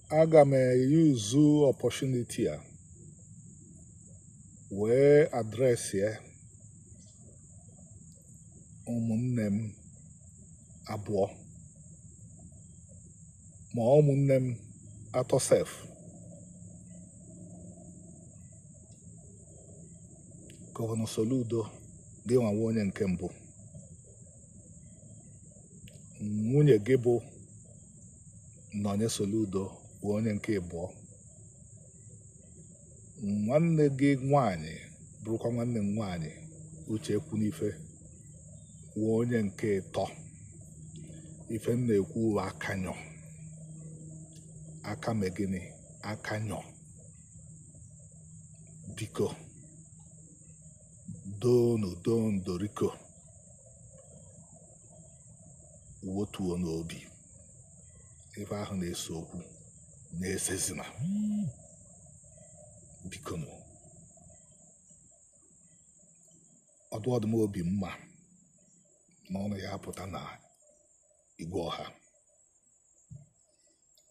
aga m eyuzu opportunity a wee adresịa ụmụnne m abụọ ma ụmụnne m atọ sef gọvanọ Soludo gị nwa wụ onye nke mbụ nwunye gị bụ Nonye Soludo wụ onye nke ịbụọ nwanne gị nwanyị bụrụkwa nwanne m nwanyị Uche Ekwunife wụ onye nke ịtọ ife m na-ekwu wụ akanyọ aka megịnị akanyọ biko doonu doonu doriko wotuonụ obi ife ahụ na-ese okwu na-esezina bikonu ọ dụ ọ dụhọ m obi mma na unu ya-apụta na igwe ọha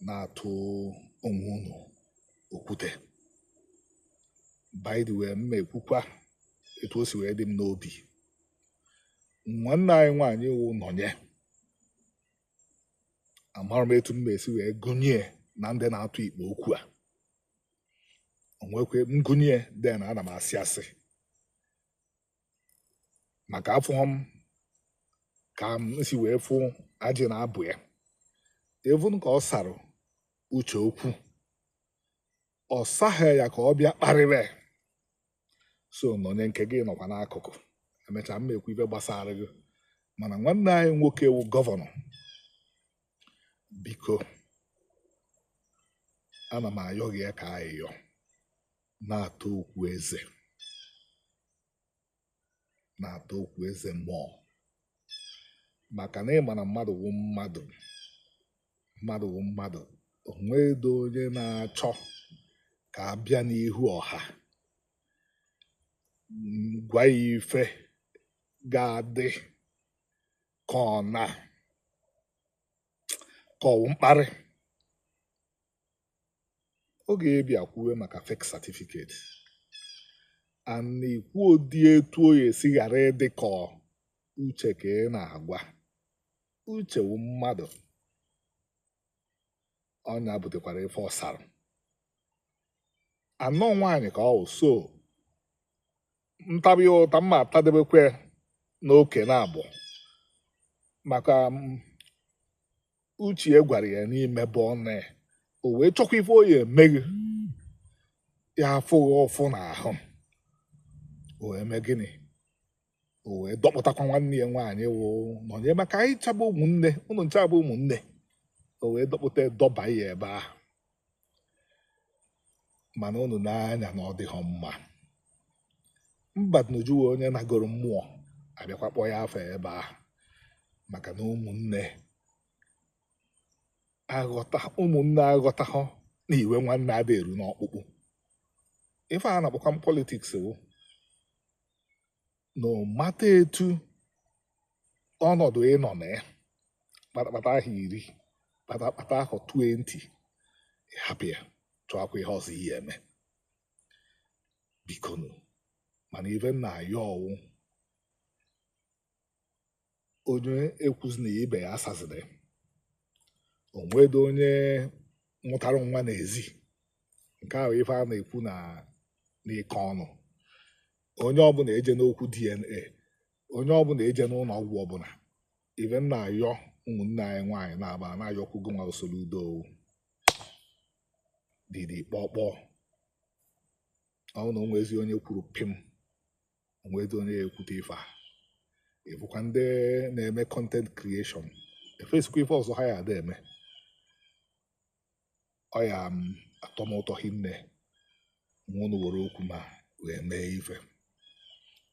na-atụ onwe unu okwute by the way m ma-ekwukwa etu o si wee dị m n'obi nwanne anyị nwaanyị wụ Nonye amarọ m etu m ma-esi wee gụnye ya na ndị na-atụ ikpe okwu a o nwekwe m gụnye ya then ana m asị asị maka afụhọ m ka m si wee fụ ajị na abụ ya even ka ọ sara Uche okwu ọ saghị ya ka ọ bịa kparịwe so Nonye nke gị nọkwa n'akụkụ emechaa m ma-ekwu ife gbasara gị mana nwanne anyị nwoke wụ gọvanọ biko ana m ayọ gị ya ka ayịyọ na-ata okwu eze na-ata okwu eze mmụọ maka na ị ma na mmadụ wụ mmadụ mmadụ wụ mmadụ o nwedọ onye na-achọ ka a bịa n'ihu ọha gwa ya ife ga-adị ka ọ na ka ọ wụ mkparị oge ị bịa kwuwe maka fake certificate and ikwu ọ dị etu ọ ya-esi ghara ịdị ka Uche ka ị na-agwa Uche wụ mmadụ ọ nya butekwara ife ọ sara and ọ nwaanyị ka ọ wụ so m tabe ụta m ma-atadebekwe nwoke na abụ maka mm, uche ya gwara ya na i mebọọna ya o wee chọkwa ife ọ ya-eme gị ya-afụ gị ụfụ n'ahụ o wee mee gịnị o wee dọkpụtakwa nwanne ya nwaanyị wụ Nọnye maka anyị ncha bụ ụmụnne ụnụ ncha bụ ụmụnne o wee dọkpụta dọba ya ebe ahụ mana unu nee anya na ọ dịghị mma mba unu jiwe onye nagoro mmụọ abịakwa kpọọ ya afa ebe ahụ maka na ụmụnne aghọta ụmụnne aghọtahụ na iwe nwanne ada eru n'ọkpụkpụ ife a na-akpọkwanụ politics wụ no matter etu ọnọdụ ị nọ na ya akpatahọ iri akpatahọ 20 ị hapụ ya chọọkwa ihe ọzọ ị ya-eme bikonu mana ife m na-ayọ wụ onye ekwuzina ibe ya asazina o nwedị onye mụtara nwa n'ezi nke wụ ife a na-ekwu na n'ike ọnụ onye ọbụla ejenakwu DNA onye ọbụla ejena ụlọ ọgwụ ọbụla ife m na-ayọ nwanne anyị nwaanyị na-aba na-ayọkwu gị nwa usoro udo didi kpọkpọ ọnụ o nwezi onye kwuru pim o nwezi onye kwute ife a ị fụkwa ndị na-eme content creation efesikwa ife ọzọ ha ya ada eme ọ ya m atọ m ụtọ hinne ma unu were okwu m a wee mee ife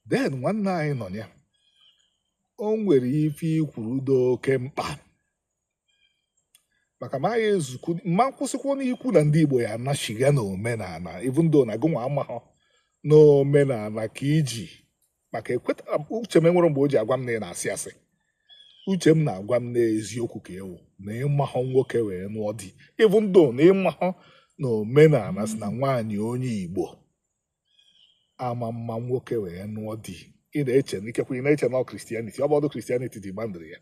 then nwanne anyị Nọnye o nwere ife i kwuru dị oke mkpa maka ma ya ezukwu ma m kwusikwa na i kwu na ndị Igbo ya anachiga na omenala even though na gụnwa amahọ na omenala ka i ji maka ekweta uche m enwere mgbe o ji agwa m na ị na-asị asị uche m na-agwa m na eziokwu ka ọ wụ na ị mahọ nwoke wee nụọ di even though na ị mahọ na omenala sị na nwaanyị onye Igbo ama ama nwoke wee nụọ di ị na-eche na ikekwe ị na-eche na ọ Christianity ọ bụhọdụ Christianity demandịrị ya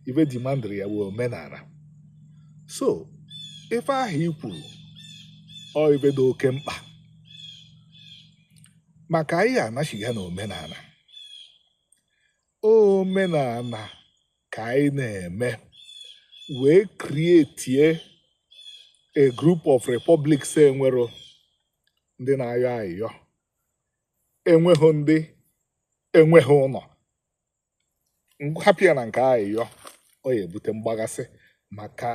ife demandịrị ya wụ omenala so ife ahụ i kwuru ọ ife dị oke mkpa maka anyị ya anachiga na omenala omenala ka anyị na-eme wee create a group of republics enwero ndị na-ayọ ayịyọ enweghị ndị enweghị ụlọ hapụ ya na nke ayịyọ ọ ya ebute mgbaghasị maka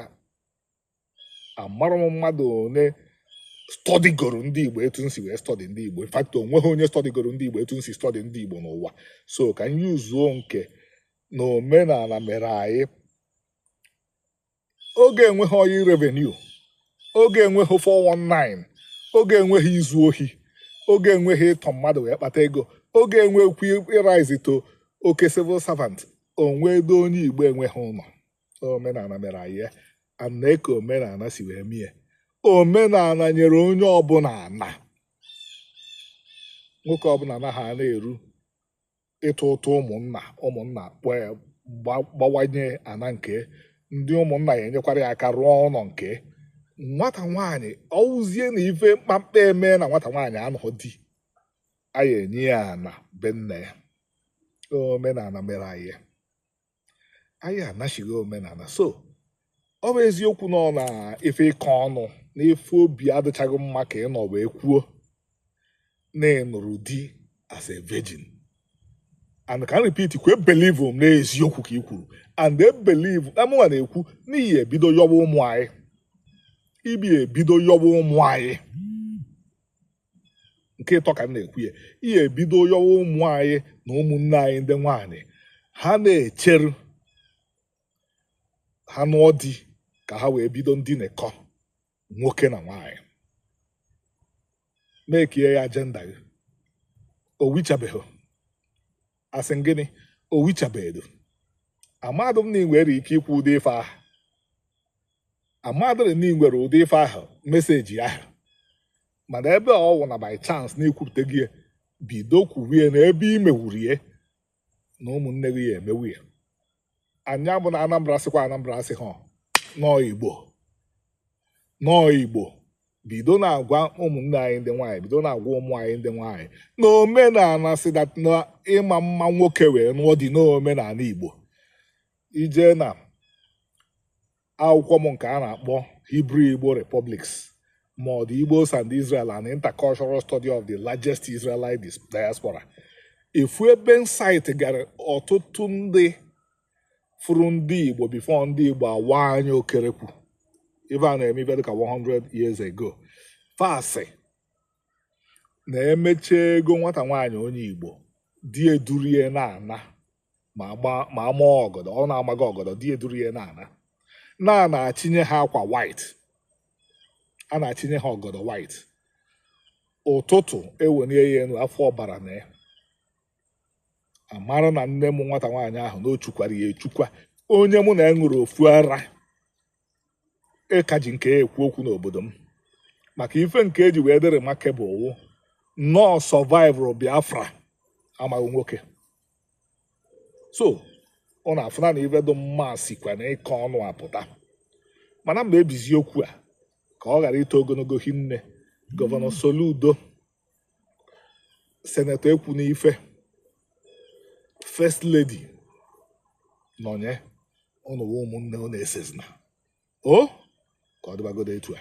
amarọ m mmadụ ole stọdịgoro ndị Igbo etu m si wee stọdị ndị Igbo infakti onweghị onye stọdịgoro ndị Igbo etu m si stọdị ndị Igbo n'ụwa so ka m yuzuo nke na omenala mere anyị oge enweghị oil revenue oge enweghị 419 oge enweghị izu ohi oge enweghị ịtọ mmadụ wee kpata ego oge enwekwu ịraizi to oke civil servant o nwedụ onye igbo enweghị ụnọ omenana mere anyị and eka omenana si wee mie omenana nyere onye ọbụna ana nwoke ọbụna ana ha na-eru ịtụ ụtụ ụmụnna ụmụnna egbawanye ya ana nke ndị ụmụnna ya enyekwara ya aka rụọ ụnọ nke nwata nwaanyị ọwụzie na ife mkpamkpa eme na nwata nwaanyị anụghị di a ya-enye ya ana be nna ya omenana mere anyị anyị na-asị gị omenana so ọ bụ eziokwu na ọ n'ife ịkọ ọnụ na ife obi adịchaghị mma ka ị nọ wee kwuo na ị nụrụ di as a virgin and ka m repeat kwe e believe m n'eziokwu ka ị kwuru and e believe na mụnwa na-ekwu na i ye-ebido yọwa ụmụ anyị i ye-ebido yọwa ụmụ anyị nke ịtọ ka m na-ekwu ya i ye-ebido yọwa ụmụ anyị na ụmụnne anyị ndị nwaanyị ha na-echeru ha nụọ di ka ha wee bido ndinekọ nwoke na nwaanyị na-ekie ya ajenda gị owichabeghị asị m gị na owichabeghị amadụ m na ị nwere ike ikwu ụdị ife ahụ amadịrị na ị nwere ụdị ife ahụ meseji ahụ mana ebe ọ wụ na by chance na i kwupụtago ya, bido kwurie na ebe i mewurie na ụmụnne gị ya-emewu ya ọ ya bụ na anambra sịkwa anambra asị ha nọọ igbo nọọ igbo bido na-agwa ụmụnne anyị ndị nwaanyị bido na-agwa ụmụ anyị ndị nwaanyị na omenana sị that na ịma mma nwoke wee nụọ di n'omenana igbo i je na akwụkwọ m nke a na-akpọ Hebrew Igbo Republics ma ọ The Igbos and Israel An Intercultural Study of the Largest Israelite Diaspora ị fụ ebe m cite gara ọtụtụ ndị fụrụ ndị Igbo bifo ndị Igbo awa anya okerekwu ife a na-eme ife dịka 100 years ago fa sị na e mechie ego nwata nwaanyị onye Igbo di edurie na-ana ma ama ọgọdọ ọ na-amaghị ọgọdọ di eduru ya na-ana a na-achịnye ha akwa white a na-achịnye ha ọgọdọ white ụtụtụ e welie ya enu a fụ ọbara na ya a mara na nne m nwata nwaanyị ahụ na o chukwara ya echukwa onye mụ na ya ṅụrụ ofu ara a ka ji nke ekwu okwu n'obodo m maka ife nke e ji wee dị remarkable wụ na ọ survivụrụ biafra amaghị nwoke so ụnụ afụna na ife dị mma sikwa n'aka ụnụ apụta mana m ga-ebizi okwu a ka ọ ghara ito ogologo hinne governor soludo senator ekwunife first lady nọnye ụnụ wụ ụmụnne ụnụ esezina o ka ọ dịbagodo etu a